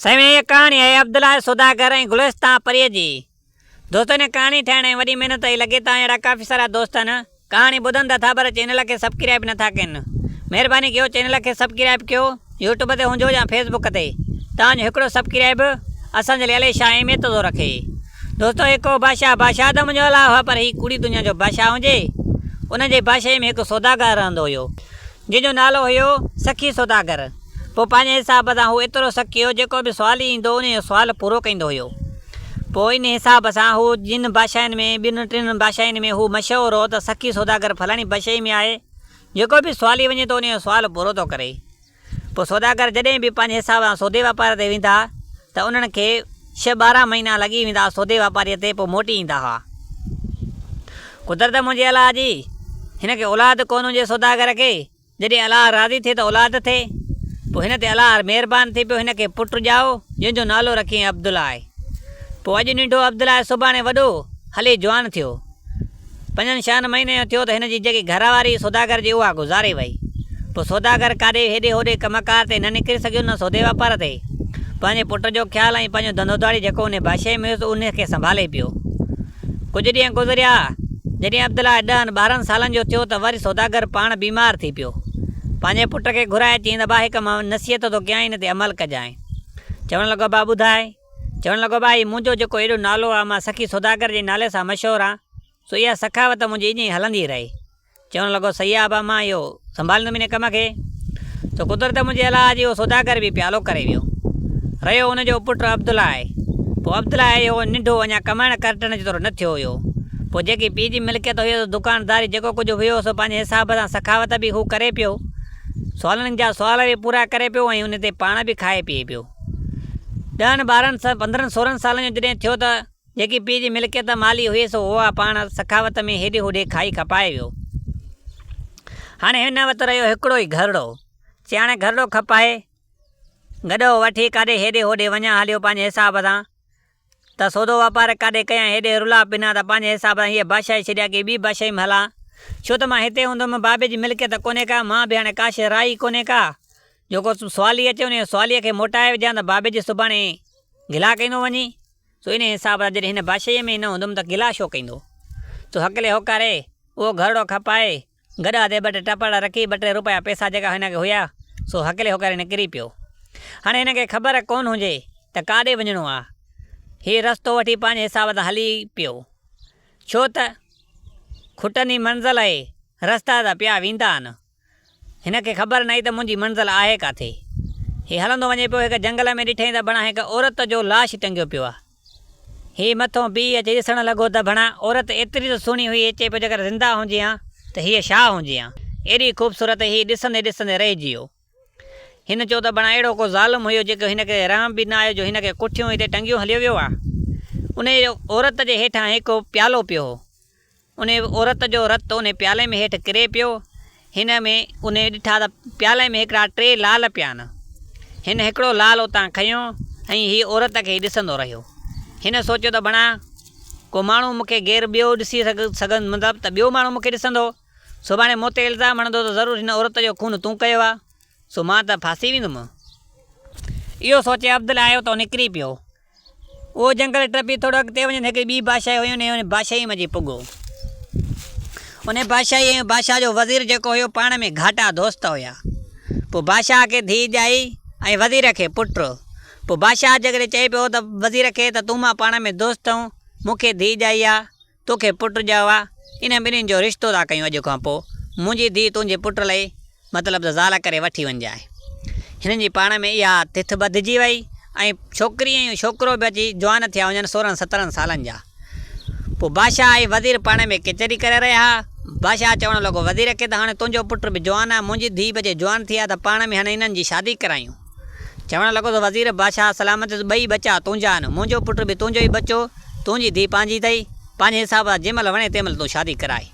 سوين هيء ڪهاڻي آهي عبدالله سوداگر ۽ گلستان پريء جي. دوستو هن ڪهاڻي ٺاهڻ ۾ وڏي محنت آهي لڳي ته اهڙا ڪافي سارا دوست آهن ڪهاڻي ٻڌن ته ٿا پر چينل کي سبڪرائب نه ٿا ڪين مهرباني ڪيو چينل کي سبڪرائب ڪيو يوٽيوب تي هجو يا فيس بڪ تي تان جو هڪڙو سبڪرائب به اسان جي لئي علي شاهه اهميت ٿو رکي دوستو هيء ڪو بادشاهه بادشاهه ته منهنجو الاهه هو پر هيء ڪوڙي دنيا جو بادشاهه هجي ان جي بادشاهي ۾ هڪ سوداگر رهندو هيو جنهن جو نالو هيو سخي سوداگر. پوء پنهنجي حساب سان هو ايترو سخي هو جيڪو به سوالي ايندو انهيء جو سوال پورو ڪيندو هيو. پوء انهيء حساب سان هو جن بادشاهين ۾ ٻن ٽن بادشاهين ۾ هو مشهور هو ته سخي سوداگر فلاڻي بادشاهي ۾ آهي. جيڪو به سوالي وڃي ٿو انهيء جو سوال پورو ٿو ڪري. پوء سوداگر جڏهن به پنهنجي حساب سان سودي واپار تي ويندا. ته انهن کي ڇهه ٻارهن مهينا لڳي ويندا ها سودي واپاريء تي پوء موٽي ايندا ها. قدرت منهنجي الله جي، هن کي اولاد ڪونه هجي سوداگر کي، جڏهن الله راضي ٿئي ته اولاد ٿئي. پوء هن تي الله مهربان ٿي پيو هن کي پٽ ڄائو جنهن جو نالو رکيائين عبدالله. پوء اڄ ننڍو عبدالله سڀاڻي وڏو هلي جوان ٿيو. پنجن شهن مهينن جو ٿيو ته هن جي جيڪي گهر واري هئي سوداگر جي اها گذاري وئي. پوء سوداگر ڪاڏي هيڏي هوڏي ڪم ڪار تي نه نڪري سگهيو نه سودي واپار تي. پنهنجي پٽ جو خيال ۽ پنهنجو ڌنڌو ڌاڙي جيڪو انهي باشي ۾ هيس انهي کي سنڀالي پيو. ڪجهه ڏينهن گذريا. جڏهن عبدالله ڏهن ٻارهن سالن جو ٿيو ته وري سوداگر پاڻ بيمار ٿي پيو. پنهنجي پٽ کي گهرائي چيائين ته ابا هڪ مان نصيحت ٿو ڪيانء ان تي عمل ڪجانء. چوڻ لڳو ابا ٻڌاء. چوڻ لڳو ڀائي منهنجو جيڪو ايڏو نالو آ مان سخي سوداگر جي نالي سان مشهور آ سو اها سخاوت منهنجي ايئن ئي هلندي رهي. چوڻ لڳو صحيح آ ڀا مان اهو سنڀاليندم ان ڪم کي. سو قدرت منهنجي الاهه جي اهو سوداگر به پيالو ڪري ويو. رهيو ان جو پٽ عبدالله آء. پوء عبدالله آء اهو ننڍو اڃا ڪمائڻ ڪرٽڻ جيترو نه ٿيو هيو. پوء جيڪي پيء جي ملڪيت هيو سو دڪانداري جيڪو ڪجهه هيو سو پنهنجي حساب سان سخاوت به هو ڪري پيو. سوالن جا سوال به پورا ڪري پيو ۽ ان تي پاڻ به کائي پيئي پيو. ڏهن ٻارهن سان پندرهن سورهن سالن جو جڏهن ٿيو ته جيڪي پيء جي ملڪيت مالي هئي سو هوء پاڻ سخاوت ۾ هيڏي هوڏي کائي کپائي ويو. هاڻي هن وٽ رهيو هڪڙو ئي گهرڙو. چي هاڻي گهرڙو کپائي گڏهو وٺي ڪاڏي هيڏي هوڏي وڃان هليو پنهنجي حساب سان. ته سودو واپار ڪاڏي ڪيان هيڏي رلاء بنا ته پنهنجي حساب سان هيء بادشاهي ڇڏيان ڪي ٻي بادشاهي ۾ هلان ڇو ته مان هتي هوندم بابي جي ملڪيت ڪونهي ڪا مان به هاڻي ڪاشي راء ئي ڪونهي ڪا جو ڪو سوالي اچي انهيء سواليء کي موٽائي وجهان ته بابي جي سڀاڻي گلا ڪيندو وڃي سو انهيء حساب سان جڏهن هن بادشاهيء ۾ ئي نه هوندم ته گلا ڇو ڪيندو سو هڪلي هوڪاري اهو گهرڙو کپائي گڏهه تي ٻه ٽي ٽپڙ رکي ٻه ٽي روپيا پئسا جيڪا هن کي هيا سو هڪلي هوڪري نڪري پيو. هاڻي هن کي خبر ڪونه هجي ته ڪاڏي وڃڻو آ. هي رستو وٺي پنهنجي حساب سان هلي پيو. ڇو ته کٽن ئي منزل اهي، رستا ته پيا ويندا آهن. هن کي خبر ناهي ته منهنجي منزل آهي ڪاٿي. هي هلندو وڃي پيو هڪ جنگل ۾ ڏٺئين ته بڻان هڪ عورت جو لاش ٽنگيو پيو آ. هي مٿون بيهي اچي ڏسڻ لڳو ته ڀڻا عورت ايتري ته سهڻي هئي چئي پيو جيڪر زنده هجي ها ته هيء ڇا هجي ها؟ ايڏي خوبصورت هي ڏسندي ڏسندي رهجي ويو. هن چيو ته ڀڻا اهڙو ڪو ظالم هيو جيڪو هن کي رحم به نه آيو جو هن کي ڪٺيون هتي ٽنگيون هليو ويو آ. انهيء عورت جي هيٺان هڪ پيالو پيو هو. ان عورت جو رت ان پيالي ۾ هيٺ ڪري پيو. هن ۾ ان ڏٺا ته پيالي ۾ هڪڙا ٽي لعل پيا آهن. هن هڪڙو لعل اتان کنيو ۽ هي عورت کي ئي ڏسندو رهيو. هن سوچيو ته بڻا ڪو ماڻهو مون کي غير ٻيو ڏسي سگهندو مطلب ته ٻيو ماڻهو مون کي ڏسندو. سڀاڻي مون تي الزام هڻندو ته ضرور هن عورت جو خون تون ڪيو آهي. سو مان ته ڦاسي ويندم. اهو سوچي عبدل آيو ته نڪري پيو. اهو جنگل ٽپي ٿورو اڳتي وڃي ته هڪڙي ٻي بادشاهي هئي انهي انهي بادشاهي منجهي پڳو. انهي بادشاهي ۽ بادشاهه جو وزير جيڪو هيو پاڻ ۾ گهاٽا دوست هيا. پوء بادشاهه کي ڌيء ڄائي ۽ وزير کي پٽ. پوء بادشاهه جيڪڏهن چئي پيو ته وزير کي ته تون مان پاڻ ۾ دوست آهيون مون کي ڌيء ڄائي آ. توکي پٽ ڄائو ها، انهن ٻنهين جو رشتو ٿا ڪيون اڄ کان پوء منهنجي ڌيء تنهنجي پٽ لئي مطلب ته زال ڪري وٺي وڃجانء. هنن جي پاڻ ۾ اها تٿ ٻڌجي وئي ۽ ڇوڪري ۽ ڇوڪرو به اچي جوان ٿيا وڃن سورهن سترهن سالن جا. پوء بادشاهه ۽ وزير پاڻ ۾ ڪچهري ڪري رهيا ها. بادشاهه چوڻ لڳو وزير کي ته هاڻي تنهنجو پٽ به جوان آهي، منهنجي ڌيء به اچي جوان ٿي آهي ته پاڻ ۾ هاڻي انهن جي شادي ڪرايون. چوڻ لڳو ته وزير بادشاهه سلامت جو ٻئي ٻچا تنهنجا آهن، منهنجو پٽ به تنهنجو ئي ٻچو، تنهنجي ڌيء پنهنجي اٿئي، پنهنجي حساب سان جنهن مهل وڻي تنهن مهل تون شادي ڪرائي.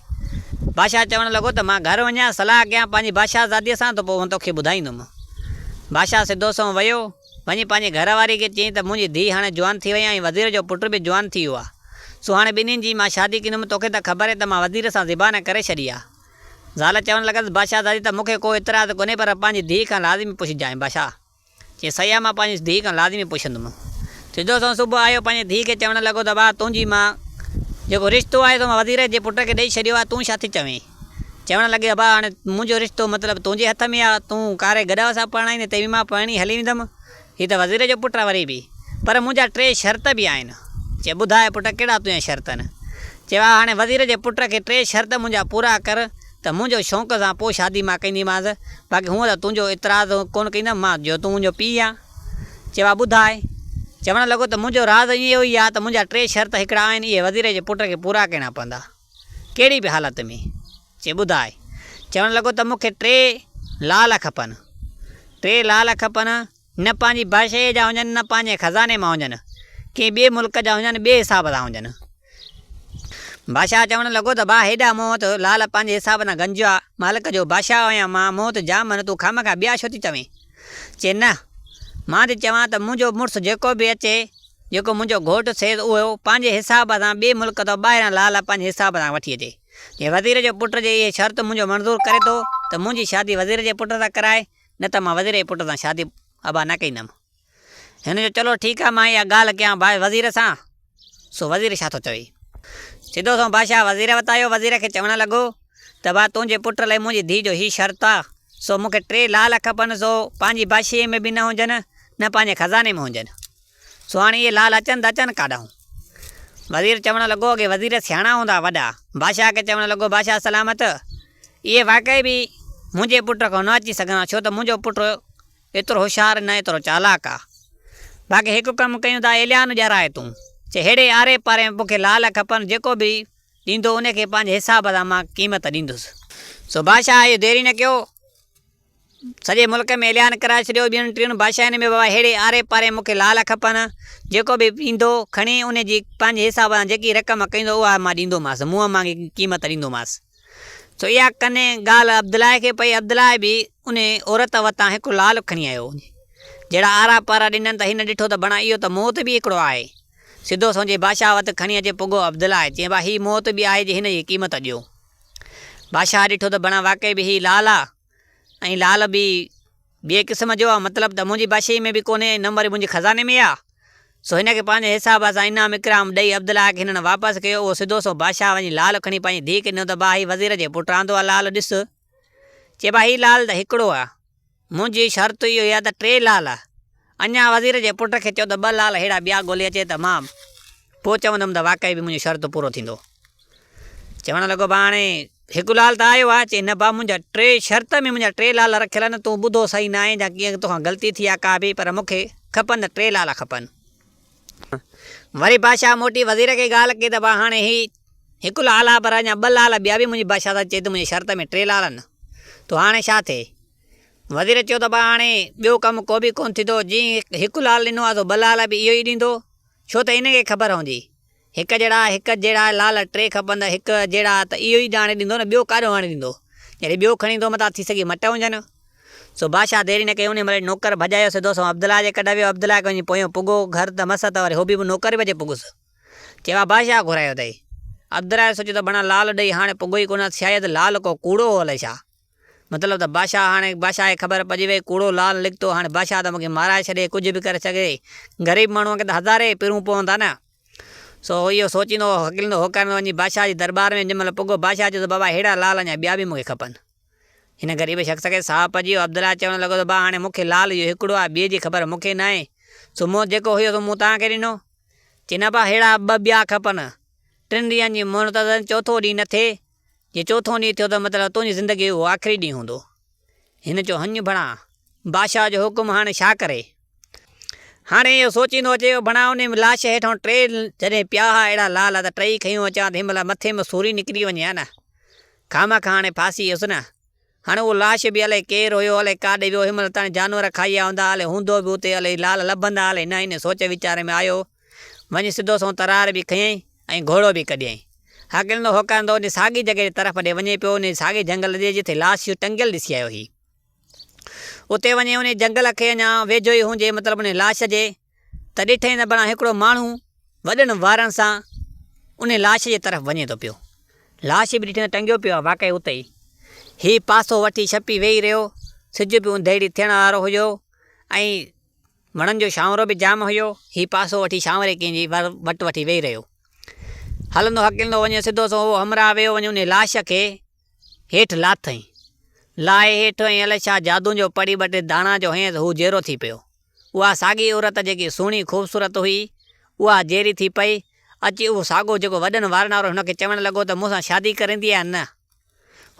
بادشاهه چوڻ لڳو ته مان گهر وڃان، صلاح ڪيان پنهنجي بادشاهزاديء سان ته پوء هون توکي ٻڌائيندم. بادشاهه سڌو سنئون ويو، وڃي پنهنجي گهر واريء کي چيائين ته منهنجي ڌيء هاڻي جوان ٿي وئي ۽ وزير جو پٽ به جوان ٿي ويو آهي، سو هاڻي ٻنهين جي مان شادي ڪندم، توکي ته خبر اٿئي ته مان وزير سان زبان ڪري ڇڏي آهي. زال چوڻ لڳس، بادشاهه زادي ته مون کي ڪو اعتراض ڪونهي پر پنهنجي ڌيء کان لازمي پڇجانء. بادشاهه چيس، صحيح آ مان پنهنجي ڌيء کان لازمي پڇندم. سڌو سنئون صبح آيو پنهنجي ڌيء کي چوڻ لڳو ته واهه تنهنجي مان جيڪو رشتو آهي سو مان وزير جي پٽ کي ڏئي ڇڏيو آهي تون ڇا ٿي چوين؟ چوڻ لڳي ابا هاڻي منهنجو رشتو مطلب تنهنجي هٿ ۾ آ تون ڪاري گڏهه سان پرڻائيندين تنهن مان پرڻي هلي ويندم. هي ته وزير جو پٽ آ وري به. پر منهنجا ٽي شرط به آهن. چي ٻڌاء پٽ ڪهڙا تنهنجا شرط آهن. چيو ها هاڻي وزير جي پٽ کي ٽي شرط منهنجا پورا ڪر ته منهنجو شونق سان پوء شادي مان ڪنديمانس باقي هونء ته تنهنجو اعتراض ڪونه ڪندم مان جو تون منهنجو پيء آن. چيو ها ٻڌاء. چوڻ لڳو ته منهنجو راز اهو ئي آ ته منهنجا ٽي شرط هڪڙا آهن اهي وزير جي پٽ کي پورا ڪرڻا پوندا. ڪهڙي به حالت ۾ چي ٻڌاء. چوڻ لڳو ته مون کي ٽي لعل کپن. ٽي لعل کپن، نه پنهنجي بادشاهيء جا هجن، نه پنهنجي خزاني مان هجن، ڪنهن ٻئي ملڪ جا هجن، ٻئي حساب سان هجن. بادشاهه چوڻ لڳو ته ڀاء هيڏا مون وٽ لعل پنهنجي حساب سان گنجيا، مالڪ جو بادشاهه آهيان مان، مون وٽ جام آهن، تون خامخا ٻيا ڇو ٿي چوين؟ چي نه، مان ٿي چوان ته منهنجو مڙس جيڪو به اچي، جيڪو منهنجو گهوٽ سيد اهو پنهنجي حساب سان ٻئي ملڪ تان ٻاهران لا لا پنهنجي حساب سان وٺي اچي. جي وزير جي پٽ جي اهي شرط منهنجو منظور ڪري ٿو ته منهنجي شادي وزير جي پٽ سان ڪرائي نه ته مان وزير جي پٽ سان شادي ابا نه ڪيندم. هن جو چلو ٺيڪ آهي مان اها ڳالهه ڪيان باء وزير سان سو وزير ڇا ٿو چوي. سڌو سنئون بادشاهه وزير وٽ آيو وزير کي چوڻ لڳو ته با تنهنجي پٽ لئي منهنجي ڌيء جو هي شرط آ سو مون کي ٽي لا لا کپن سو پنهنجي بادشاهي ۾ به نه هجن نه پنهنجي خزاني ۾ هجن. سهڻي اي لال اچن ته اچن ڪاڏانهون. وزير چوڻ لڳو اڳي وزير سياڻا هوندا وڏا. بادشاهه کي چوڻ لڳو بادشاهه سلامت! اهي واقعي به منهنجي پٽ کان نه اچي سگهندا ڇو ته منهنجو پٽ ايترو هوشيار نه ايترو چالاڪ آ. باقي هڪ ڪم ڪيون ٿا ايليان ڄرائي تون چهڙي آري پاري ۾ مون کي لال کپن جيڪو به ڏيندو ان کي پنهنجي حساب سان مان قيمت ڏيندس. سو بادشاهه اهو ديري نه ڪيو. سڄي ملڪ ۾ اعلان ڪرائي ڇڏيو ٻين ٽين بادشاهين ۾ به اهڙي آري پاري مون کي لعل کپن، جيڪو به ايندو کڻي ان جي پنهنجي حساب سان جيڪي رقم ڪهيندو اها مان ڏيندومانس، منهن مانگي قيمت ڏيندومانس. سو اها ڪني ڳالهه عبدالله کي پئي، عبدالله به ان عورت وتان هڪ لعل کڻي آيو، جهڙا آرا پارا ڏنن ته هن ڏٺو ته بڻا اهو ته موت به هڪڙو آهي، سڌو سنجهي بادشاهه وٽ کڻي اچي پڳو عبدالله چينبا هي موت به آهي جي هن جي قيمت ڏيو. بادشاهه ڏٺو ته بڻا واقعي به هي لال آ ۽ لال به ٻئي قسم جو آ، مطلب ته منهنجي بادشاهي ۾ به ڪونهي ۽ نه وري منهنجي خزاني ۾ آ، سو هن کي پنهنجي حساب سان انعام اڪرام ڏئي عبدالله کي هنن واپس ڪيو، اهو سڌو سنئون بادشاهه وڃي لال کڻي پنهنجي ڌيء کي ڏنو ته با هي وزير جي پٽ رهندو آ لال ڏس چئبو آ هي لال ته هڪڙو آ. منهنجي شرط اهو هي ته ٽي لال اڃا وزير جي پٽ کي چئو ته ٻه لال ههڙا ٻيا ڳولي اچي ته مان پوء چوندم ته واقعي به منهنجو شرط پورو ٿيندو. چوڻ لڳو ڀاء هاڻي هڪ لال ته آيو آهي. چئي نه ڀاء منهنجا ٽي شرط ۾ منهنجا ٽي لال رکيل آهن تون ٻڌو صحيح ناهين جا ڪيئن توکان غلطي ٿي آهي ڪا به پر مون کي کپن ته ٽي لال کپن. وري بادشاهه موٽي وزير کي ڳالهه ڪئي ته ڀاء هاڻي هي هڪ لال آ پر اڃا ٻه لال ٻيا به منهنجي بادشاهه سان چئي ته منهنجي شرط ۾ ٽي لال آهن تو هاڻي ڇا ٿئي؟ وزير چيو ته ڀاء هاڻي ٻيو ڪم ڪو به ڪونه ٿيندو جنهن هڪ لال ڏنو آ سو ٻه لال به اهو ئي ڏيندو ڇو ته ان کي خبر هوندي هڪ جهڙا، هڪ جهڙا لعل ٽي کپندا هڪ جهڙا ته اهو ئي ڄاڻي ڏيندو نه ٻيو ڪاڏو آڻي ڏيندو. جڏهن ٻيو کڻي ايندو متان ٿي سگهي مٽ هجن. سو بادشاهه ديري نه ڪئي انهي مهل ئي نوڪر ڀڄايو سڌو سنئون عبدالله جي ڪڍ ويو عبدالله کي وڃي پويون پڳو گهر ته مس ته وري هو به به نوڪر ئي بجي پڳس چيوا بادشاهه گهرايو اٿئي. عبدالله سوچيو ته بڻا لعل ڏئي هاڻي پڳو ئي ڪونه سيايد لعل ڪو ڪوڙو هو الئي ڇا. مطلب ته بادشاهه هاڻي بادشاهه کي خبر پئجي وئي ڪوڙو لال نڪتو هاڻي بادشاهه ته مون کي مارائي ڇڏي ڪجهه به ڪري سگهي غريب ماڻهوء کي ته هزارين پرون پون ٿا نه. سو هو اهو سوچيندو هو هڪليندو هو ڪرندو وڃي بادشاهه جي درٻار ۾ جنهن مهل پڳو بادشاهه چيو ته بابا ههڙا لال اڃا ٻيا به مون کي کپن. هن غريب شخص کي ساهه پئجي ويو عبدالله چوڻ لڳو ته با هاڻي مون کي لال اهو هڪڙو آهي ٻئي جي خبر مون کي ناهي سو مون جيڪو هيو سو مون توهان کي ڏنو. چئي نه با ههڙا ٻه ٻيا کپن ٽن ڏينهن جي مهلت اٿس چوٿون ڏينهن نه ٿئي. جي چوٿون ڏينهن ٿيو ته مطلب تنهنجي زندگيء جو اهو آخري ڏينهن هوندو. هن چيو، هڃ ڀڻا، بادشاهه جو حڪم هاڻي ڇا ڪري؟ هاڻي اهو سوچيندو اچي جو ڀڻا انهيء لاش هيٺئون ٽي جڏهن پيا ها اهڙا لال ها ته ٽيئي کنيون اچان ته هن مهل مٿي مان سوري نڪري وڃي ها نه! خامخا هاڻي ڦاسي هيس نه! هاڻي اهو لاش به الئي ڪير هيو، الئي ڪاڏي ويو، هن مهل تائين جانور کائي ويا هوندا، الئي هوندو به اتي، الئي لعل لڀندا الئي نه، انهيء سوچ ويچار ۾ آيو، وڃي سڌو سنئون ترار به کنيئي ۽ گهوڙو به ڪڍيائين. هاڪريندو هوڪاريندو انهيء ساڳي جڳهه جي طرف ڏي وڃي پيو، انهيء ساڳي جهنگل جي جتي لاش اهو ٽنگيل ڏسي آيو هي. اتي وڃي انهيء جهنگل کي اڃا ويجهو ئي هوندي، مطلب انهيء لاش جي، ته ڏٺئي ته بڻان هڪڙو ماڻهو وڏن وارن سان ان لاش جي طرف وڃي ٿو پيو. لاش به ڏٺئي ته ٽنگيو پيو آهي واقعي اتي ئي. هي پاسو وٺي ڇپي ويهي رهيو. سج به اوندهيڙي ٿيڻ وارو هيو ۽ وڻن جو شانورو به جام هيو. هي پاسو وٺي شانوري ڪنهن جي وٽ وٺي ويهي رهيو. هلندو هڪلندو وڃي سڌو سنئون اهو همراهه ويو وڃي ان لاش کي هيٺ لاٿئين. لاهي هيٺ ۽ الائي ڇا جادو جو پڙي ٻه ٽي داڻا جو هنئين ته هو جيئرو ٿي پيو. اها ساڳي عورت جيڪي سهڻي خوبصورت هئي، اها جيري ٿي پئي. اچي اهو ساڳو جيڪو وڏن وارن وارو هن کي چوڻ لڳو ته مون سان شادي ڪريندين يا نه؟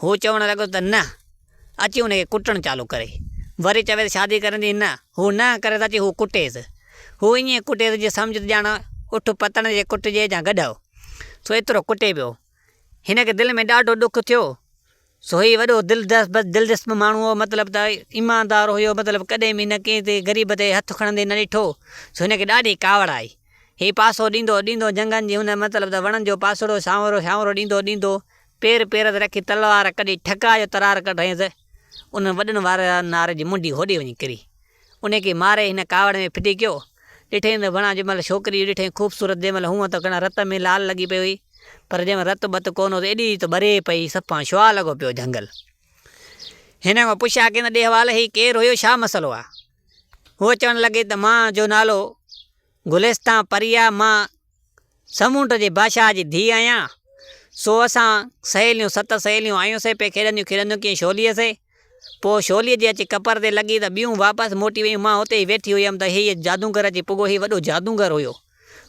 هو چوڻ لڳو ته نه. اچي ان کي ڪٽڻ چالو ڪري. وري چوي ته شادي ڪريندين نه؟ هو نه ڪري ته اچي هو ڪٽيس. هو ائين ڪٽيس جيئن سمجهه ته ڄاڻ اٺ پتڻ جي ڪٽجي يا گڏهه. سو ايترو ڪٽي پيو. هن کي دل ۾ ڏاڍو ڏک ٿيو. سو هي وڏو دلدسپ ماڻهو هو، مطلب ته ايماندار هيو، مطلب ڪڏهن به هن ڪنهن تي غريب تي هٿ کڻندي نه ڏٺو، سو هن کي ڏاڍي ڪاوڙ آئي، هي پاسو ڏيندو ڏيندو جهنگن جي هن مطلب ته وڻن جو پاسڙو سانورو سانورو ڏيندو ڏيندو پير پير تي رکي تلوار ڪڍي ٺڪاء جو ترار ڪڍيس، انهن وڏن وارنار جي منڍي هوڏي وڃي ڪري. انهيء کي ماري هن ڪاوڙ ۾ ڦٽي ڪيو. ڏٺئين ته وڻان جنهن مهل ڇوڪري ڏٺئين خوبصورت جنهن مهل هونء ته گهڻا رت ۾ لال لڳي پئي هئي پر جنهن مهل رت بت ڪونه هو ته ايڏي ته ٻري پئي صفا شعاع لڳو پيو جهنگل هن کان پڇيا ڪين ته ڏيهوال هي ڪير هيو ڇا مسئلو آ هوء چوڻ لڳي ته مان جو نالو گلستان پريا مان سمونڊ جي بادشاهه جي ڌيء آهيان، سو اسان سهيليون ست سهيليون آيون سي پئي کيڏنديون کيڏنديون ڪيئي شوليء سي، پوء شوليء جي اچي ڪپر تي لڳي ته ٻيون واپس موٽي ويون، مان اتي ئي ويٺي هيم ته هيء جادوگر اچي پڳو، هيء وڏو جادوگر هيو،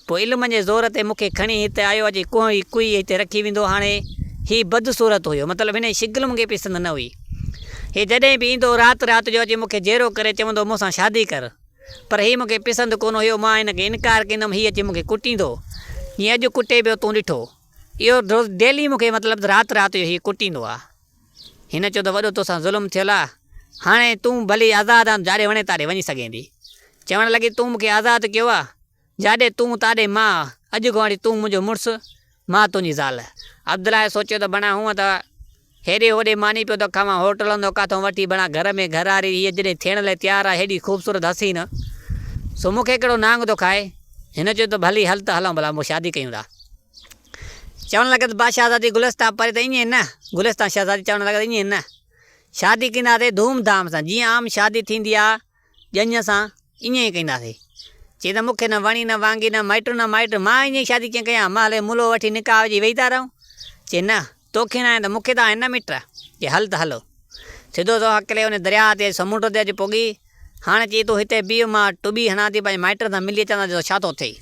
پوء علم جي زور تي مون کي کڻي هت آيو اچي ڪوهه ئي ڪوئي هتي رکي ويندو، هاڻي هيء بدصورت هيو، مطلب هن جي شڪل مون کي پسند نه هئي، هيء جڏهن به ايندو رات رات جو اچي مون کي جيرو ڪري چوندو مون سان شادي ڪر. پر هي مون کي پسند ڪونه هيو، مان هن کي انڪار ڪندم، هي اچي مون کي ڪٽيندو، جيئن اڄ ڪٽي پيو، تون ڏٺو، اهو روز ڊيلي مون کي مطلب ته رات رات جو هي ڪٽيندو آ. هن چيو ته وڏو تو سان ظلم ٿيل آ، هاڻي تون ڀلي آزاد آن، جاڏي وڻين تاڏي وڃي سگهين ٿي. چوڻ لڳي تون مون کي آزاد ڪيو آ، جاڏي تون تاڏي مان، اڄ کان وٺي تون منهنجو مڙس، مان تنهنجي زال. عبدالله سوچيو ته بڻا هونء ته هيڏي هوڏي ماني پيو ٿو کائون، هوٽلن ٿو ڪاٿو وٺي بڻا گهر ۾ گهراري هيء جڏهن ٿيڻ لاء تيار آهي هيڏي خوبصورت حسين سو مون کي ڪهڙو نانگ ٿو کائي. هن چيو ته ڀلي هل ته هلون ڀلا پوء شادي ڪيون ٿا. چوڻ لڳس ڀا شهزادي گلستان پري ته ائين نه، گلستان شهزادي چوڻ لڳس ائين نه، شادي ڪنداسين ڌوم ڌام سان جيئن عام شادي ٿيندي آهي، ڄڃ سان ائين ئي ڪنداسين. چي ته مون کي نه وڻي نه وانگي نه مائٽون نه مائٽ، مان ائين ئي شادي ڪيئن ڪيان، مان هلي ملهو وٺي نڪاح وجهي ويهي ٿا رهون. چي نه، تو کي ناهي ته مون کي ته آهن نه مٽ. چي هل ته هلو. سڌو سنئون هڪلي ان درياهه تي سمنڊ تي اچي پڳي. هاڻي چي تون هتي بيهه مان ٽٻي هڻان ٿي پنهنجي مائٽن سان ملي اچان ٿا ڏسان ڇا ٿو ٿئي.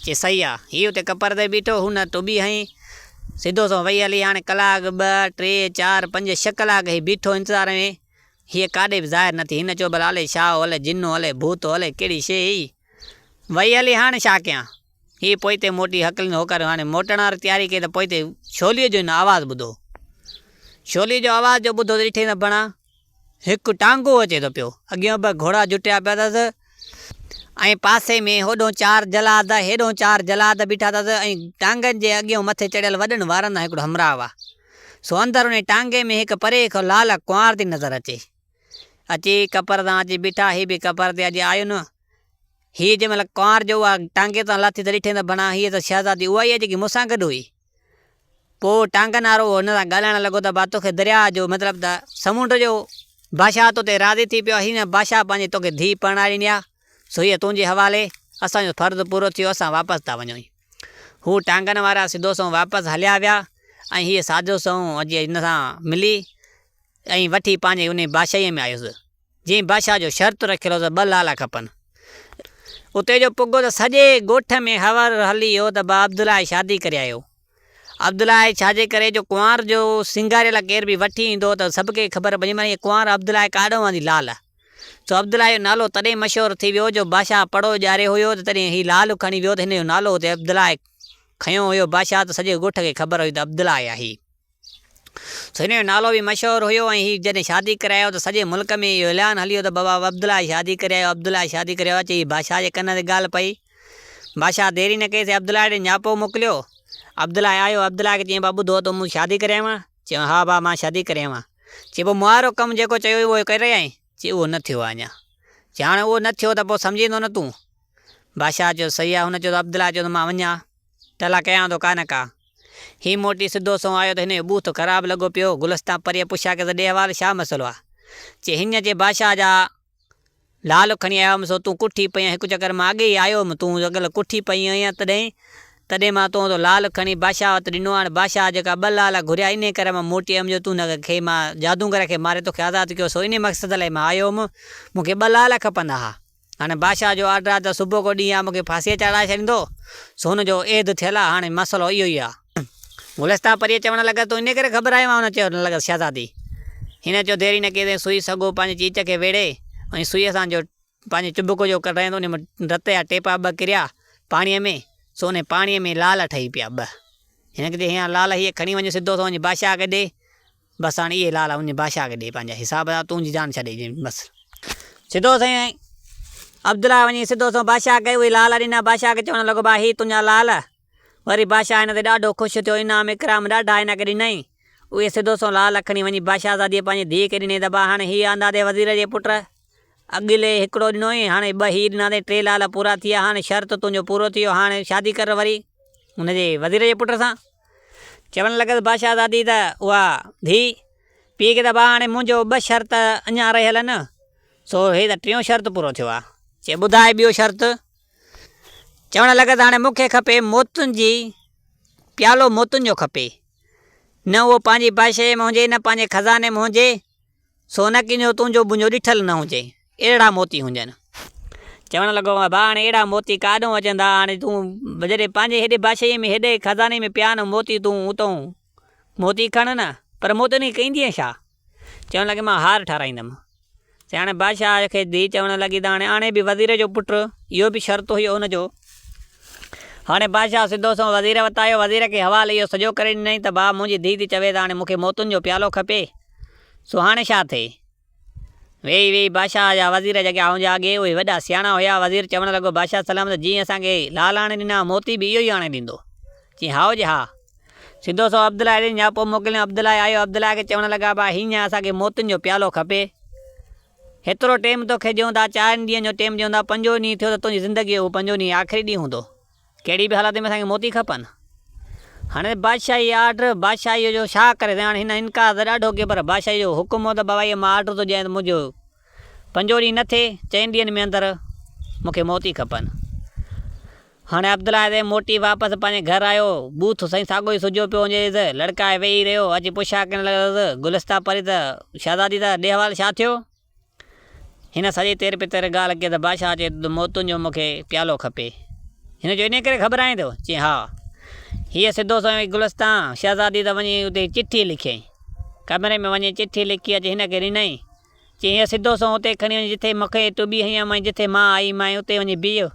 چي صحيح آ. هي اتي ڪپر تي بيٺو هو نه ٽٻي هنئين. سڌو سنئون وئي هلي هاڻي ڪلاڪ ٻه، ٽي، چار، پنج، ڇهه ڪلاڪ هي بيٺو انتظار ۾. هيء ڪاڏي به ظاهر نه ٿي. هن چيو، ڀلا الي شاهو الي جنو الي ڀوتو الي ڪهڙي شيء هئي. وئي الي هاڻ ڇا ڪيان. هيء پوئتي موٽي هڪلين هوڪاريون هڻي موٽڻ واري تياري ڪئي ته پوئتي ڇوليء جو هن آواز ٻڌو. ڇوليء جو آواز جو ٻڌو ته ڏٺئي ته بڻا هڪ ٽانگو اچي ٿو پيو. اڳيون به گهوڙا جٽيا پيا اٿس ۽ پاسي ۾ هوڏهون چار جلاد هيڏهون چار جلاد بيٺا اٿس ۽ ٽانگن جي اڳيون مٿي چڙهيل وڏن وارن سان هڪڙو همراهه هئا. سو اندر انهي ٽانگي ۾ هڪ پري کان لعل ڪنوار ٿي نظر اچي. اچي ڪپر تان اچي بيٺا، هي به ڪپر تي اڄ آيو نه. هيء جنهن مهل ڪنوار جو اها ٽانگي تان لٿي ته ڏٺين ته بنان هيء ته شهزادي اها ئي آهي جيڪي مون سان گڏ هئي. پوء ٽانگن وارو هن سان ڳالهائڻ لڳو ته ڀا توکي درياء جو مطلب ته سمنڊ جو بادشاهه توتي راضي ٿي پيو آهي. هن بادشاهه پنهنجي توکي ڌيء پرڻائي ڏني آهي. سو هيء تنهنجي حوالي. اسان جو فرض پورو ٿيو، اسان واپس ٿا وڃون. هو ٽانگن وارا سڌو سنئون واپس هليا ويا ۽ هيء ساڌو سنئون اچي هن سان ملي ۽ وٺي پنهنجي انهيء بادشاهيء ۾ آيس، جنهن بادشاهه جو شرط رکيل هو ته ٻه لالا کپن. اتي جو پڳو ته سڄي ڳوٺ ۾ هور هلي ويو ته بابا عبدالله جي شادي ڪري آيو. عبدالله جي ڇاجي ڪري جو ڪنوار جو سينگاريل ڪير به وٺي ايندو هو ته سڀ کي خبر پئجي مان هيء ڪنوار عبدالله ڪاڏو آندي لال. سو عبدالله جو نالو تڏهن مشهور ٿي ويو جو بادشاهه پڙو ڄاري هيو ته تڏهن هي لعل کڻي ويو ته هن جو نالو اتي عبدالله کنيو هيو بادشاهه ته سڄي ڳوٺ کي خبر هئي ته عبدالله آهي هي سو هن جو نالو به مشهور هيو ۽ هي جڏهن شادي ڪري آيو ته سڄي ملڪ ۾ اهو اعلان هليو ته بابا عبدالله جي شادي ڪري آيو عبدالله جي شادي ڪري آيو اچي هي بادشاهه جي ڪن تي ڳالهه پئي بادشاهه ديري نه ڪئي سي عبدالله ڏي نياپو موڪليو عبدالله آيو عبدالله کي چيائين بابا ٻڌو ته مون شادي ڪري آيو آهيان چيو، ها ڀاء مان شادي ڪري اوهان. چي پو مهارو ڪم جيڪو چيو هئي اهو ڪري رهيا آهين؟ چي اهو نه ٿيو آهي اڃا. چي هاڻي اهو نه ٿيو ته پو سمجهيندو نه تون؟ بادشاهه چيو صحيح آهي هن چيو ته عبدالله چيو ته مان وڃان ٽلا ڪيان ٿو ڪانه ڪا. هي موٽي سڌو سنئون آيو ته هن جو بوٿ خراب لڳو پيو. گلستان پريء پڇيا ڪيس ته ڏي حوال شا مسئلو آهي؟ چي هينئن چي بادشاهه جا. لعل کڻي آيو هئم سو تون ڪٺي پئين هڪ چڪر مان اڳي ئي آيو هئم تون اڳل ڪٺي پئين هئين ها تڏهن تڏهن مان تون جو لعل کڻي بادشاهه وٽ ڏنو هان بادشاهه جيڪا ٻه لعل گهريا انهي ڪري مان موٽي آيم جو تون هن کي مان جادوگر کي ماري توکي آزاد ڪيو سو انهي مقصد لاء مان آيو هئم مون کي ٻه لعل کپندا ها هاڻي بادشاهه جو آرڊر آ ته صبح ڪو ڏينهن يا مون کي ڦاسيء چڙهائي ڇڏيندو سو هن جو عهد ٿيل آ هاڻي مسئلو اهو ئي آ. گلستان پريء چوڻ لڳس، تون انهيء ڪري گهٻرايو آهين؟ هن چوڻ لڳس، شهزادي! هن چيو، ديري نه ڪيندين، سوئي سڳو پنهنجي چيچ کي ويڙهي، انهيء سوئيء سان جو پنهنجي چٻڪ جو ڪڍايائين ته انهيء مان رت جا ٽيپا ٻه ڪريا پاڻيء ۾، سو انهيء پاڻيء ۾ لعل ٺهي پيا ٻه. هن کي چيائين، هي هاڻ لعل هيء کڻي وڃ سڌو سو وڃي بادشاهه کي ڏي. بس هاڻ اهي لعل وڃي بادشاهه کي ڏي پنهنجا حساب ڪتاب تنهنجي جان ڇڏي ڏي بس. سڌو سئي عبدالله وڃي سڌو سنئون بادشاهه کي اهي لعل ڏنا، بادشاهه کي چوڻ لڳو، ڀاء هي تنهنجا لعل. وري بادشاهه هن تي ڏاڍو خوش ٿيو، انعام اڪرام ڏاڍا هن کي ڏنائين. اهي سڌو سنئون لال اکڻي وڃي بادشاهزاديء پنهنجي ڌيء کي ڏني ته با هاڻي هيء آندادي وزير جي پٽ اڳلي هڪڙو ڏنوئين، هاڻي ٻه هيء ڏنا اٿئي، ٽي لال پورا ٿي ويا، هاڻي شرط تنهنجو پورو ٿي ويو، هاڻي شادي ڪر وري هن جي وزير جي پٽ سان. چوڻ لڳس بادشاهزادي ته اها ڌيء، پيء کي ته با هاڻي منهنجو ٻه شرط اڃا رهيل آهن، سو هيء ته ٽيون شرط پورو ٿيو آهي. چي ٻڌاء ٻيو شرط؟ چوڻ لڳس هاڻي مون کي کپي موتن جي پيالو موتن جو کپي. نه اهو پنهنجي بادشاهيء ۾ هجي نه پنهنجي خزاني ۾ هجي، سو نه ڪنهنجو تنهنجو منهنجو ڏٺل نه هجي، اهڙا موتي هجن. چوڻ لڳو ڀاء هاڻي اهڙا موتي ڪاڏهون اچن ٿا، هاڻي تون جڏهن پنهنجي هيڏي بادشاهيء ۾ هيڏي خزاني ۾ پيا آهن موتي تون اتئون موتي کڻ نه، پر مون تي نيئي ڪيندينء ڇا؟ چوڻ لڳي مان هار ٺارايندم. سياڻي بادشاهه کي ڌيء چوڻ لڳي ته هاڻي آنهي به وزير جو پٽ، اهو به شرط هيو ان جو. هاڻي بادشاهه سڌو سنئون وزير وٽ آيو، وزير کي حوال اهو سڄو ڪري ڏنائين ته ڀاء منهنجي ڌيء ٿي چوي ته هاڻي مون کي موتن جو پيالو کپي، سو هاڻي ڇا ٿئي؟ ويهي ويهي بادشاهه جا وزير جيڪي آئون جي آگي اهي وڏا سياڻا هيا، وزير چوڻ لڳو بادشاهه سلام ته جيئن اسان کي لال آڻي ڏنا موتي به اهو ئي آڻي ڏيندو؟ چيائين هائو جي ها. سڌو سنئون عبدالله ڏي نياپو پوء موڪليائون عبدالله آيو عبدالله کي چوڻ لڳا ڀاء هينئن اسان کي موتين جو پيالو کپي هيترو ٽيم توکي ڏيون ٿا چارين ڏينهن جو ٽيم ڏيون ٿا پنجون ڏينهن ٿيو ته تنهنجي زندگي جو اهو پنجون ڏينهن آخري ڏينهن هوندو ڪهڙي به حالت ۾ اسان کي موتي کپن. هاڻي بادشاهي جي آرڊر بادشاهي جو شا ڪري سگهان. هاڻي هن انڪار ته ڏاڍو ڪيو پر بادشاهي جو حڪم هو ته بابائيء مان آرڊر ٿو ڏيان ته منهنجو پنجون ڏينهن نه ٿئي، چئن ڏينهن ۾ اندر مون کي موتي کپن. هاڻي عبدالله سائين موٽي واپس پنهنجي گهر آيو. بوٿ سائين ساڳيو ئي سجهيو پيو هوندي ته لڙڪائي ويهي رهيو. اچي پڇا ڪرڻ لڳس، گلستا پري ته شهزادي ته ڏي حوال شا ٿيو؟ هن سڄي تير پتر ڳالهه ڪئي ته بادشاهه چئي ٿو ته موتن جو مون کي پيالو کپي. هن چيو انهيء ڪري گهٻرائين ٿو؟ چيائين ها. هيء سڌو سنئون ئي گلستان شهزاديء تان وڃي اتي چٺي لکيائين. ڪمري ۾ وڃي چٺي لکي اچي هن کي ڏنائين. چيائين هيء سڌو سنئون اتي کڻي وڃ جتي مون کي تون بيهين هئين ۽ جتي مان آئي مانء اتي وڃي بيهه.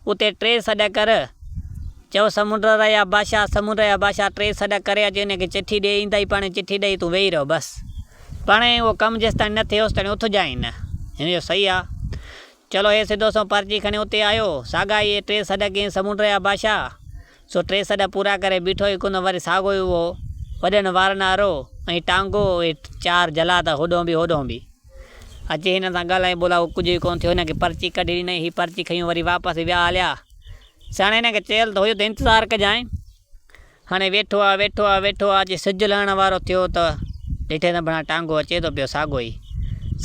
اتي ٽي سڏ ڪر. چئو سمنڊ ريا بادشاهه، سمنڊ ريا بادشاهه ٽي سڏ ڪري اچ انهي کي چٺي ڏي ايندائي پاڻهي چٺي ڏئي تون ويهي رهه بس. پاڻهي اهو ڪم جيستائين نه ٿئي اوستائين اٿجانء نه. هن چيو صحيح آ. چلو هي سڌو سنئون پرچي کڻي اتي آيو. ساڳا ئي ٽي سڏ ڪيائين سمنڊ ريا بادشاهه. سو ٽي سڏ پورا ڪري بيٺو ئي ڪونه وري ساڳو ئي اهو وڏن وارن وارو ۽ ٽانگو اهي چار جلا ته هوڏهون به هوڏهون به اچي هنن سان ڳالهائي ٻولا اهو ڪجهه ئي ڪونه ٿيو هن کي پرچي ڪڍي ڏنائين هي پرچي کنيون وري واپس ويا هليا سياڻي هن کي چيل ته هيو ته انتظار ڪجانء هاڻي ويٺو آ ويٺو آ ويٺو آ جي سج لهڻ وارو ٿيو ته ڏٺي ته ڀڻا ٽانگو اچي ٿو پيو ساڳو ئي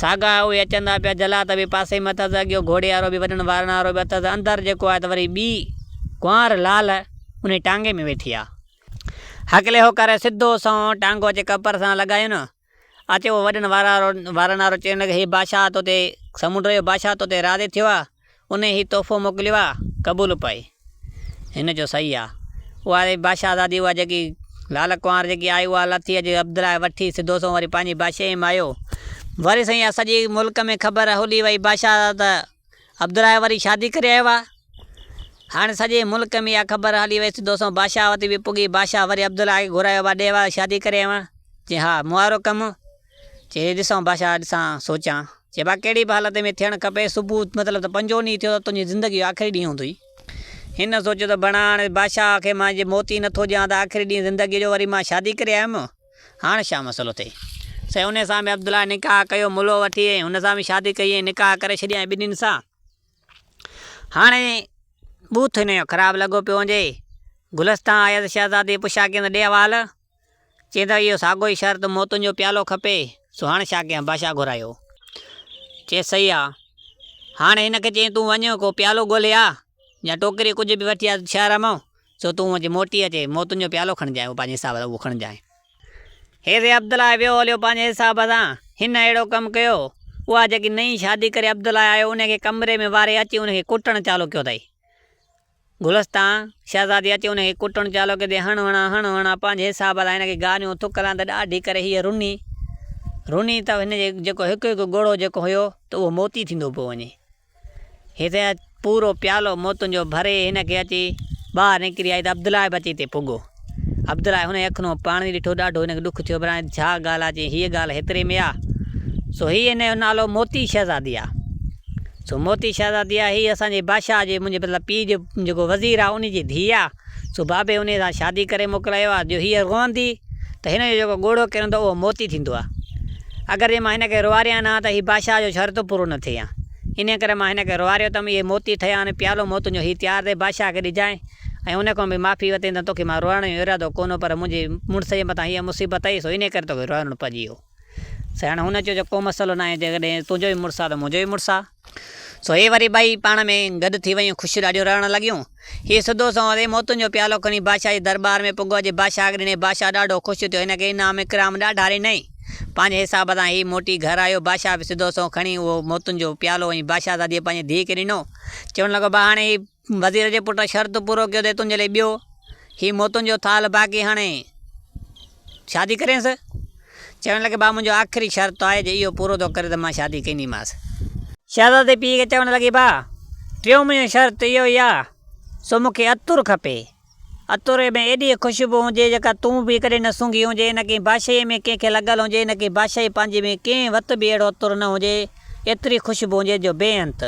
ساڳا اهي اچندا پيا جلا ته به پاسي ۾ اٿس اڳيو گهوڙي وارو به وڏن وارن وارو به اٿس اندر جيڪو آهي ته وري ٻي ڪنوار لعل انهي ٽانگي ۾ ويٺي آ. هڪلي هو ڪري سڌو سنئون ٽانگو اچي ڪپر سان لڳايون. اچي اهو وڏن وارن وارو چئڻ لڳي هي بادشاهه توتي سمنڊ جو بادشاهه توتي راضي ٿيو آ. انهي هي تحفو موڪليو آ. قبول پئي هن جو صحيح آ. اها ري بادشاهه زادي اها جيڪي لعل ڪنوار جيڪي آئي اها لٿي اچي عبدالله وٺي سڌو سنئون وري پنهنجي بادشاهي ۾ آيو. وري سائين اها سڄي ملڪ ۾ خبر هلي وئي بادشاهه ته. عبدالرائي وري شادي ڪري آيو آ. هاڻ سڄي ملڪ ۾ اها خبر هلي وئي ته دوسون بادشاهه وٽ به پڳي. بادشاهه وري عبدالرائي کي گهرايو آ، ڏي وار شادي ڪري آيو آهيان. چي ها، مون وارو ڪم. چي هي ڏسان بادشاهه، ڏسان، سوچان. چي با ڪهڙي به حالت ۾ ٿيڻ کپي، صبح مطلب ته پنجون ڏينهن ٿيو ته تنهنجي زندگيء جو آخري ڏينهن هوندوئي. هن سوچيو ته بڻا هاڻ بادشاهه کي مان جي موت ئي نٿو ڏيان ته آخري ڏينهن زندگيء جو وري مان شادي ڪري آيم. هاڻ ڇا مسئلو ٿئي؟ سائين انهي سان به عبدالله نڪاح ڪيو ملو وٺي ۽ هن سان به شادي ڪئي ۽ نڪاح ڪري ڇڏيائين ٻنهين سان. هاڻي بوٿ هن جو خراب لڳو پيو هجي. گلستان آيس شهزادي پڇا ڪينس ڏي حوال. چينس اهو ساڳو ئي شرط موتن جو پيالو کپي سو هاڻ ڇا ڪيان بادشاهه گهرايو. چيس صحيح آ. هاڻي هن کي چيائين تون وڃ ڪو پيالو ڳولهي آ يا ٽوڪري ڪجهه به وٺي آ شهر مان. سو تون هونء جي موٽي اچي، موتن جو پيالو کڻجانء، اهو پنهنجي حساب سان اهو کڻجانء. هيري عبدالله ويو هليو پنهنجي حساب سان، هن اهڙو ڪم ڪيو. اها جيڪي نئين شادي ڪري عبدالله آيو، ان کي ڪمري ۾ واري اچي ان کي ڪٽڻ چالو ڪيو اٿئي. گلستان، شهزادي اچي ان کي ڪٽڻ چالو ڪيو اٿئي، هڻ هڻان، هڻ هڻان، پنهنجي حساب سان هن کي گاريون، ٿڪ هلان ته ڏاڍي ڪري هيء رني، رني ته هن جي جيڪو هڪ هڪ ڳوڙهو جيڪو هيو ته اهو موتي ٿيندو پيو وڃي. هتي اچ، پورو پيالو مون تنهنجو ڀري هن کي اچي ٻاهر نڪري آئي ته عبدالله به اچي هتي پڳو. عبدالله هن جي اکين مان پاڻي ڏٺو، ڏاڍو هن کي ڏک ٿيو، براڻي ڇا ڳالهه آ، چيائين هيء ڳالهه هيتري ۾ آ، سو هيء هن جو نالو موتي شهزادي آ، سو موتي شهزادي آ، هيء اسان جي بادشاهه جي منهنجي مطلب پيء جو جيڪو وزير آ، انهي جي ڌيء آ. سو بابي انهيء سان شادي ڪري موڪلايو آ، جو هيء روئندي ته هن جو جيڪو ڳوڙهو ڪرندو اهو موتي ٿيندو آ. اگر جي مان هن کي روئاريان نه ها ته هي بادشاهه جو شرط پورو نه ٿئي ها. انهيء ڪري مان هن کي روئاريو ٿم، اهي موتي ٺهيا آهن، پيالو موتن جو هي تيار ٿئي بادشاهه کي ڏجانء ۽ ان کان به معافي وتين ته توکي مان روئڻ جو ارادو ڪونه پر منهنجي مڙس جي مٿان هيء مصيبت آئي سو انهيء ڪري توکي روئڻو پئجي هو. سياڻي هن چيو جو ڪو مسئلو ناهي، جيڪڏهن تنهنجو به مڙس آ ته منهنجو به مڙس آ. سو هي وري ٻئي پاڻ ۾ گڏ ٿي ويون خوشيون ڏاڍيون رڙڻ لڳيون. هي سڌو سنئون تي موتن جو پيالو کڻي بادشاهه جي درٻار ۾ پڳو جي بادشاهه کي ڏني. بادشاهه ڏاڍو خوش ٿيو. هن کي انعام اڪرام ڏاڍا ڏنائين. پنهنجي حساب سان هي موٽي گهر آيو. بادشاهه به سڌو سنئون کڻي اهو موتن جو پيالو وڃي بادشاهزاديء پنهنجي ڌيء کي ڏنو. چوڻ لڳو ڀاء هاڻي هي. وزير جي پٽ شرط پورو ڪيو ته تنهنجي لاء ٻيو هي موتن جو ٿالهه باقي هاڻي شادي ڪرينس. چوڻ لڳي ڀاء منهنجو آخري شرط آهي جي اهو پورو ٿو ڪري ته مان شادي ڪينديمانس. شهزادي پيء کي چوڻ لڳي ڀاء ٽيون منهنجو شرط اهو ئي آهي سو مون کي عطر کپي. عطر ۾ ايڏي خوشبو هجي جيڪا تون به ڪڏهن نه سونگهي هجين، نه ڪنهن بادشاهيء ۾ ڪنهن کي لڳل هجي، نه ڪنهن بادشاهي پنهنجي ۾ ڪنهن وت به اهڙو عطر نه هجي، ايتري خوشبو هجي جو بي انت.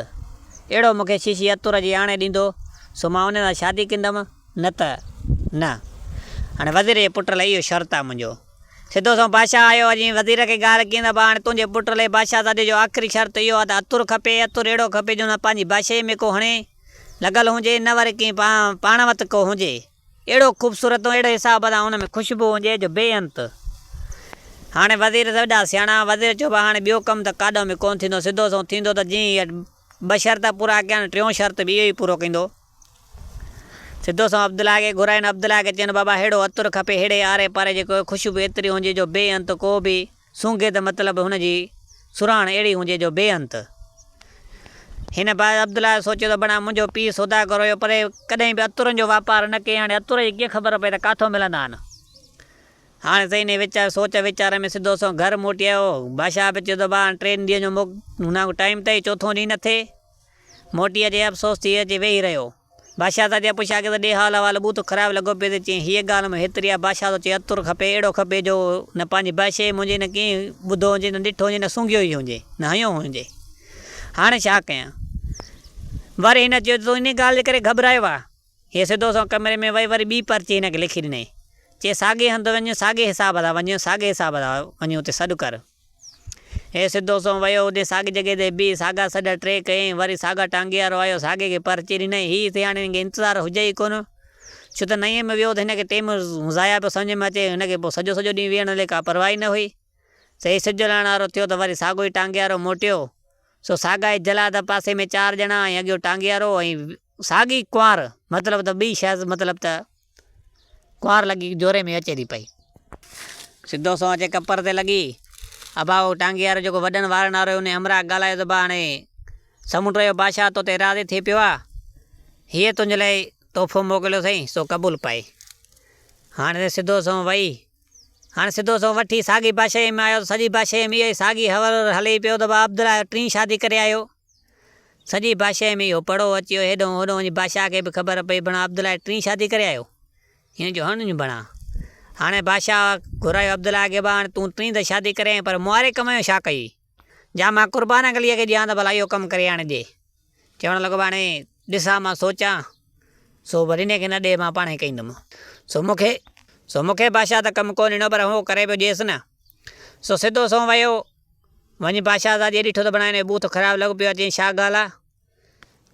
اهڙو مون کي شيشي عطر جي آڻي ڏيندو سو مان ان سان شادي ڪندم، نه ته نه. هاڻي وزير جي پٽ لاء اهو شرط آهي منهنجو. سڌو سنئون بادشاهه آيو اڄ وزير کي ڳالهه ڪيئن ته ڀاء هاڻي تنهنجي پٽ لاء بادشاهزادي جو آخري شرط اهو آهي ته عطر کپي، عطر اهڙو کپي جو نه پنهنجي بادشاهيء ۾ ڪو هڻي، لڳل هجي نه وري ڪنهن پاڻ وت ڪو هجي اهڙو خوبصورت اهڙي حساب سان ان ۾ خوشبو هجي جو بي انت. هاڻي وزير سڀ جا سياڻا وزير چيو ڀا هاڻي ٻيو ڪم ته ڪاڏو ۾ ڪونه ٿيندو سڌو سنئون ٿيندو ته جئين هي ٻه شرط پورا ڪيا آهن ٽيون شرط به اهو ئي پورو ڪندو سڌو سنئون عبدالله کي گهرائين عبدالله کي چين بابا اهڙو عطر کپي اهڙي آري پاري جي خوشبو ايتري هجي جو بي انت ڪو به سونگي ته مطلب هن جي سرهاڻ اهڙي هونجي جو بي انت. هن بعد عبدالله سوچيو ته بڻا منهنجو پيء سوداگر هيو پر ڪڏهن به عطرن جو واپار نه ڪيائين هاڻي عطر جي ڪيئن خبر پئي ته ڪاٿو ملندان. هاڻي ته انهي ويچار سوچ ويچار ۾ سڌو سنئون گهر موٽي آيو. بادشاهه به چيو ته با هاڻي ٽين ڏينهن جو موڪ هن ڪو ٽائيم تئي چوٿون ڏينهن نه ٿئي موٽي اچي افسوس ٿي اچي ويهي رهيو. بادشاهه تان چيائين، پڇيان ڪيس ته ڏي حال احوال. ٻوٿ خراب لڳو پيس ۽ چيائين، هيء ڳالهه مون هيتري آهي، بادشاهه ٿو چوي عطر کپي، اهڙو کپي جو نه پنهنجي بادشاهيء منجهي نه ڪنهن ٻڌو هجي، نه ڏٺو هجي، نه سونگهيو ئي هجي، نه هنيو هجي. هاڻي ڇا ڪيان؟ وري هن چيو ته تون انهيء ڳالهه جي ڪري گهٻرايو آهين. هيء سڌو سنئون ڪمري ۾ وئي وري ٻي پرچي هن کي لکي ڏنائين. چيائين، ساڳئي هنڌ وڃ، ساڳئي حساب سان وڃ، ساڳئي حساب سان وڃ اتي سڏ ڪر. هي سڌو سنئون ويو، اتي ساڳي جڳهه تي بيهي ساڳا سڏ ٽي ڪيائين، وري ساڳا ٽانگي وارو آيو، ساڳي کي پر چير ڏنائين، هي ٿي هاڻي هن کي انتظار هجي ئي ڪونه، ڇو ته نئين ۾ ويو ته هن کي ٽيم ضايع پيو سمجهه ۾ اچي، هن کي پوء سڄو سڄو ڏينهن ويهڻ لي ڪا پرواهه ئي نه هئي، سو هي سج جلائڻ وارو ٿيو ته وري ساڳو ئي ٽانگي وارو موٽيو، سو ساڳا ئي جلا ته پاسي ۾ چار ڄڻا ۽ اڳيون ٽانگي وارو ۽ ساڳي ڪنوار، مطلب ته ٻئي شايد مطلب ته. ڪنوار لڳي جوري ۾ اچي ٿي پئي. سڌو سنئون اچي ڪپر تي لڳي. ابا اهو ٽانگي وارو جيڪو وڏن وارن وارو هو انهي همراهه ڳالهايو ته با هاڻي سمنڊ جو بادشاهه تو تي راضي ٿي پيو آهي. هيء تنهنجي لاء تحفو موڪليو اٿئي سو قبول پائي. هاڻي ته سڌو سنئون وئي. هاڻي سڌو سنئون وٺي ساڳي بادشاهيء ۾ آيو ته سڄي بادشاهيء ۾ اهو ئي ساڳي هورهر هلي پيو ته با عبدالله ٽين شادي ڪري آيو. سڄي بادشاهيء ۾ اهو پڙهو اچي ويو، هيڏانهن هوڏانهن وڃي بادشاهه کي به خبر پئي، بڻا عبدالله جي ٽين شادي ڪري آيو، هن جو هڻ ڏيون بڻا. هاڻي بادشاهه گهرايو عبدالله کي، ابا هاڻي تون ٽين ته شادي ڪري آئين، پر مئاري ڪم جو ڇا ڪيئي، جا مان قربان عليء کي ڏيان ته ڀلا اهو ڪم ڪري آڻي ڏي. چوڻ لڳو، هاڻي ڏسان مان سوچان، سو ورينهين کي نه ڏي، مان پاڻهي ڪيندم. سو مون کي، سو مون کي بادشاهه ته ڪم ڪونه ڏنو، پر هو ڪري پيو ڏيس نه. سو سڌو سنئون ويو. وڃي بادشاهه سان جي ڏٺو ته بڻائي نئين بوٿ خراب لڳو پيو آهي، چيائين ڇا ڳالهه آهي؟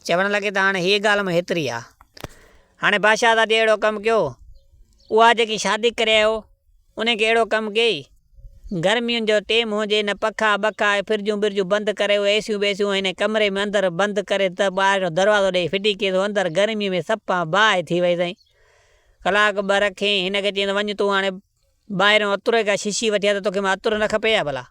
چوڻ لڳي ته هاڻي هيء ڳالهه مون هيتري آهي. هاڻي بادشاهه سان جي اهڙو ڪم ڪيو، اها جيڪي شادي ڪري آيو، انهيء کي اهڙو ڪم ڪيئي. گرمين جو ٽيم هو، جي هن پکا ٻکا ۽ فرجون برجون بند ڪري، اهي اي سيون بيسيون هن جي ڪمري ۾ اندر بند ڪري ته ٻاهر هڪڙو دروازو ڏيئي ڦٽي ڪيس، هو اندر گرميء ۾ سپان باهه ٿي ويئي سائين. ڪلاڪ ٻه رکيئين، هن کي چيائين ته وڃ تون هاڻي. ٻاهران عطر جي ڪا شيشي وٺي آيو ته توکي مان عطر نه کپي ڇا ڀلا،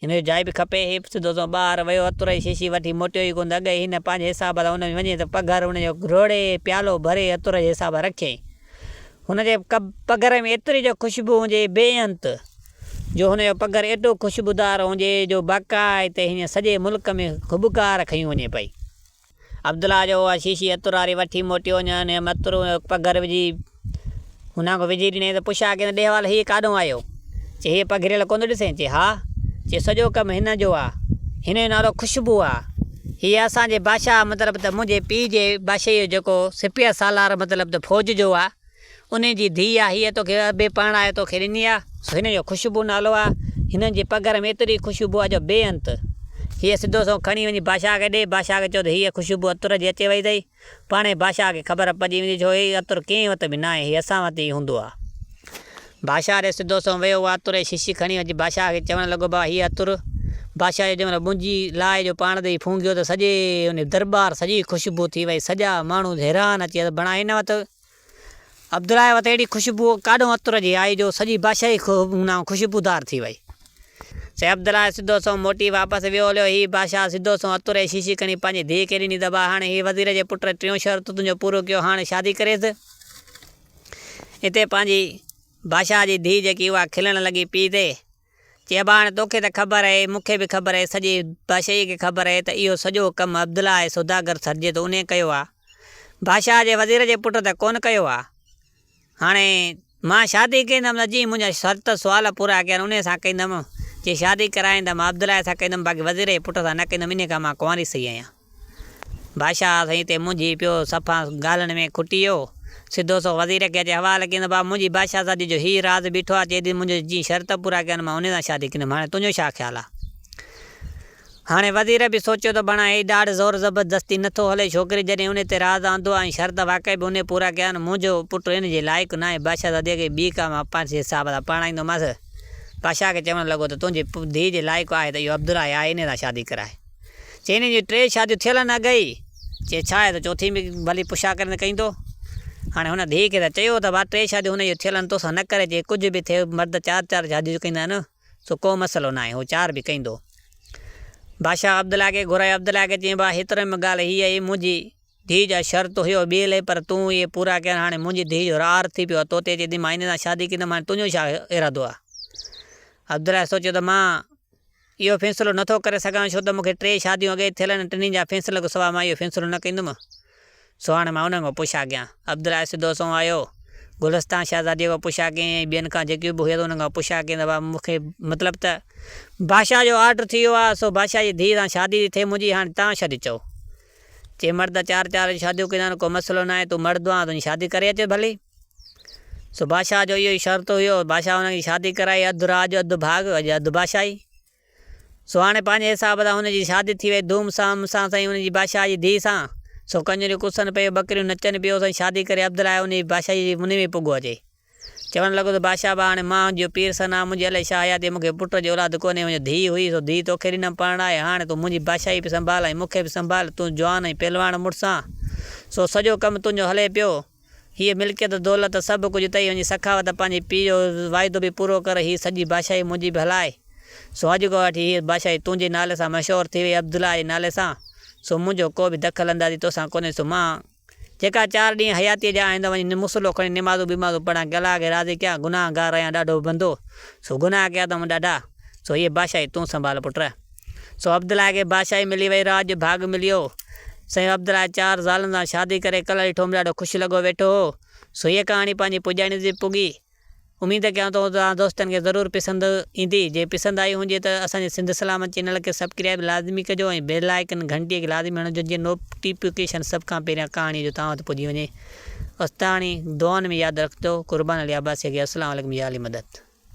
هن جو جاء به کپي، هي سڌو سنئون ٻاهر ويو عطر جي شيشي وٺي موٽيو ئي ڪونه ته اڳ ئي هن پنهنجي حساب سان ان ۾ وڃي ته پگهر ان جو گهروڙي پيالو ڀري عطر جي حساب سان رکيائين. هن جي پگهر ۾ ايتري جو خوشبو هوندي هئي بي انت جو هن جو پگهر ايڏو خوشبودار هوندي هئي جو باقاعده هيئن سڄي ملڪ ۾ هٻڪار کنيون وڃي پئي. عبدالله جو اها شيشي عطر واري وٺي موٽيو وڃ ۽ ان عطر ۾ هڪ پگهر وجهي هن کي وجهي ڏنائين ته پڇ آء ڪنهن ڏي حوالي هيء ڪاڏهون آيو؟ چي هيء پگهريل ڪونه ڏسين؟ چي ها! چي سڄو ڪم هن جو آ. هن جو نالو خوشبوء آ. هيء اسان جي بادشاهه مطلب ته منهنجي پيء جي بادشاهيء جو جيڪو سپهه سالار مطلب ته فوج جو آ، انهن جي ڌيء آ، هيء توکي به پرڻائي توکي ڏني آ، سو هن جو خوشبو نالو آ. هنن جي پگهر ۾ ايتري خوشبو آ جو بي انت. هيء سڌو سنئون کڻي وڃي بادشاهه کي ڏي، بادشاهه کي چئو ته هيء خوشبو عطر جي اچي وئي اٿئي. پاڻهي بادشاهه کي خبر پئجي ويندي، ڇو هيء عطر ڪنهن وٽ به ناهي، هيء اسان وٽ ئي هوندو آ. بادشاهه ڏي سڌو سنئون ويو، اها عطر جي شيشي کڻي وڃي بادشاهه کي چوڻ لڳو، بابا هيء عطر. بادشاهه جو جنهن مهل منجي لائي جو پاڻ تي ڦونگهيو ته سڄي ان درٻار سڄي خوشبو ٿي وئي، سڄا ماڻهو حيران اچي ويا ته بڻا هن وٽ عبدالله وٽ اهڙي خوشبوء ڪاڏون عطر جي آئي جو سڄي بادشاهي ئي هنئون خوشبودار ٿي وئي. سي عبدالله سڌو سنئون موٽي واپس ويو هليو. هي بادشاهه سڌو سنئون عطر جي شيشي کڻي پنهنجي ڌيء کي ڏني ته ڀاء هاڻي هي وزير جي پٽ ٽيون شرط تنهنجو پورو ڪيو هاڻ شادي ڪريس. اتي پنهنجي بادشاهه جي ڌيء جيڪي اها کلڻ لڳي پيء تي. چيو ڀاڻ توکي ته خبر اهي مون کي به خبر اهي سڄي باشيء کي خبر اهي ته اهو سڄو ڪم عبدالله اهي سوداگر سرجي ٿو انهي ڪيو آهي باشاهه جي وزير جي پٽ ته ڪونه ڪيو آهي هاڻي مان شادي ڪيندم ته جي منهنجا شرط سوال پورا ڪيا آهن انهي سان ڪيندم جي شادي ڪرائيندم عبدالله سان ڪيندم باقي وزير جي پٽ سان نه ڪيندم انهي ڪري مان ڪنواري سهي آهيان. بادشاهه سائين تي منهنجي پيو صفا ڳالهن ۾ کٽي ويو. سڌو سنئون وزير کي اچي حوال ڪيائين ته بابا منهنجي بادشاهه سان جيجو هي راز بيٺو آهي چئي ٿي منهنجو جي شرط پورا ڪيا آهن مان انهي سان شادي ڪندم هاڻي تنهنجو ڇا خيال آهي؟ هاڻي وزير به سوچيو ته بڻا هي ڏاڍ زور زبردستي نه ٿو هلي ڇوڪري جڏهن انهي تي راز آندو آهي ۽ شرط واقعي به انهي پورا ڪيا آهن منهنجو پٽ ان جي لائق نه آهي بادشاهه سان ڌيء کي بي ڪام اپانسي حساب سان پرڻائيندومانس. بادشاهه کي چوڻ لڳو ته تنهنجي ڌيء جي لائق آهي ته اهو عبدالله ئي آهي انهي سان شادي ڪرائي. چي هنن جون ٽي شاديون ٿيل آهن اڳ ئي. چي ڇا آهي، تون چوٿين به ڀلي پڇا ڪرين ته ڪئين ٿو. هاڻي هن ڌيء کي ته چيو ته ڀا ٽي شاديون هن جون ٿيل آهن، توسان نه ڪري. چي ڪجهه به ٿئي، مرد چار چار شاديون ڪيندا آهن، سو ڪو مسئلو ناهي، هو چار به ڪيندو. بادشاهه عبدالله کي گهرايو، عبدالله کي چيائين، ڀا هيترو ۾ ڳالهه هيء آهي، منهنجي ڌيء جا شرط هيو ٻيئي لئي، پر تون اهي پورا ڪيا آهن، هاڻي منهنجي ڌيء جو رار ٿي پيو آهي، توتي اچي ٿي، مان هن سان شادي ڪيندم، هاڻي تنهنجو ڇا ارادو آهي. عبدالله سوچيو ته مان. اهو فيصلو نه ٿو ڪري سگهان ڇو ته مون کي ٽي شاديون اڳيئي ٿيل آهن ۽ ٽنهي جا فيصلن کان سواء مان اهو فيصلو نه ڪندم. سو هاڻي مان انهن کان پڇا ڪيان. عبدالله سڌو سنئون آيو. گلستان شهزاديء کان پڇا ڪيائين ۽ ٻين کان جيڪيون به هيون انهن کان پڇا ڪيائين ته ڀاء مون کي مطلب ته بادشاهه جو آرڊر ٿي ويو آهي سو بادشاهه جي ڌيء سان شادي ٿي ٿي منهنجي هاڻي توهان شادي چئو. چي مرد چار چار شاديون ڪيون اٿن، ڪو مسئلو ناهي، تون مرد آن تنهنجي شادي ڪري اچ ڀلي. سو بادشاهه جو اهو ئي شرط هيو، بادشاهه هن جي شادي ڪرائي، اڌ راڄ اڌ ڀاڳ ۽ اڌ بادشاهي. سو هاڻي پنهنجي حساب سان هن جي شادي ٿي وئي ڌوم سام سان سائين هن جي بادشاهه جي ڌيء سان، سو ڪنجريون ڪسن پيون، ٻڪريون نچن پيون، سائين شادي ڪري عبدالله هن جي بادشاهي جي منهي ۾ پڳو اچي. چوڻ لڳو ته بادشاهه با هاڻي مان هجيو پير سنا، منهنجي الائي ڇا حياتي، مون کي پٽ جي اولاد ڪونهي، منهنجو ڌيء هئي، سو ڌيء توکي ڏنم پرڻائي، هاڻي تون منهنجي بادشاهي به سنڀال ۽ مون کي به سنڀال، تون جوان ۽ پهلواڻ مڙس آن، سو سڄو ڪم تنهنجو هلي پيو، هيء ملڪيت دولت سڀ ڪجهه اٿئي، وڃي سخاوت پنهنجي پيء جو واعدو به پورو ڪر، هيء سڄي بادشاهي منهنجي به هلاء، سو اڄ کان وٺي هيء بادشاهي تنهنجي نالي سان مشهور ٿي وئي، عبدالله جي نالي سان، سو منهنجو ڪو به دخل اندازي توسان ڪونهي، سو مان. جيڪا چار ڏينهن حياتيء جا آهن ته وڃي مصلو کڻي نمازون بمازون پڙهان، ڪي الله کي راضي ڪيان، گناهه گار رهيان ڏاڍو بندو، سو گناهه ڪيا اٿم ڏاڍا، سو هيء بادشاهي تون سنڀال پٽ. سو عبدالله کي بادشاهي ملي وئي، راڄ جو ڀاڳ ملي ويو. سائين عبدالله جي چار زالن سان شادي ڪري ڪلهڙي ٺوهه ۾ ڏاڍو خوش لڳو ويٺو هو. سو هيء ڪهاڻي پنهنجي پڄاڻيء تي پڳي. اميد ڪيان ٿو توهان دوستن کي ضرور پسند ايندي جي پسند آئي هونجي ته اسان جي سنڌ سلامت چينل کي سبڪريائب لازمي ڪجو ۽ بيل آئيڪن گهنٽي کي لازمي هڻجو جيئن نوبٽيپيڪيشن سڀ کان پهريان ڪهاڻي جو توهان وٽ پڄي وڃي استاڻي دعائن ۾ ياد رکجو قربان علي عباسي کي اسلام عليڪم يا علي مدد.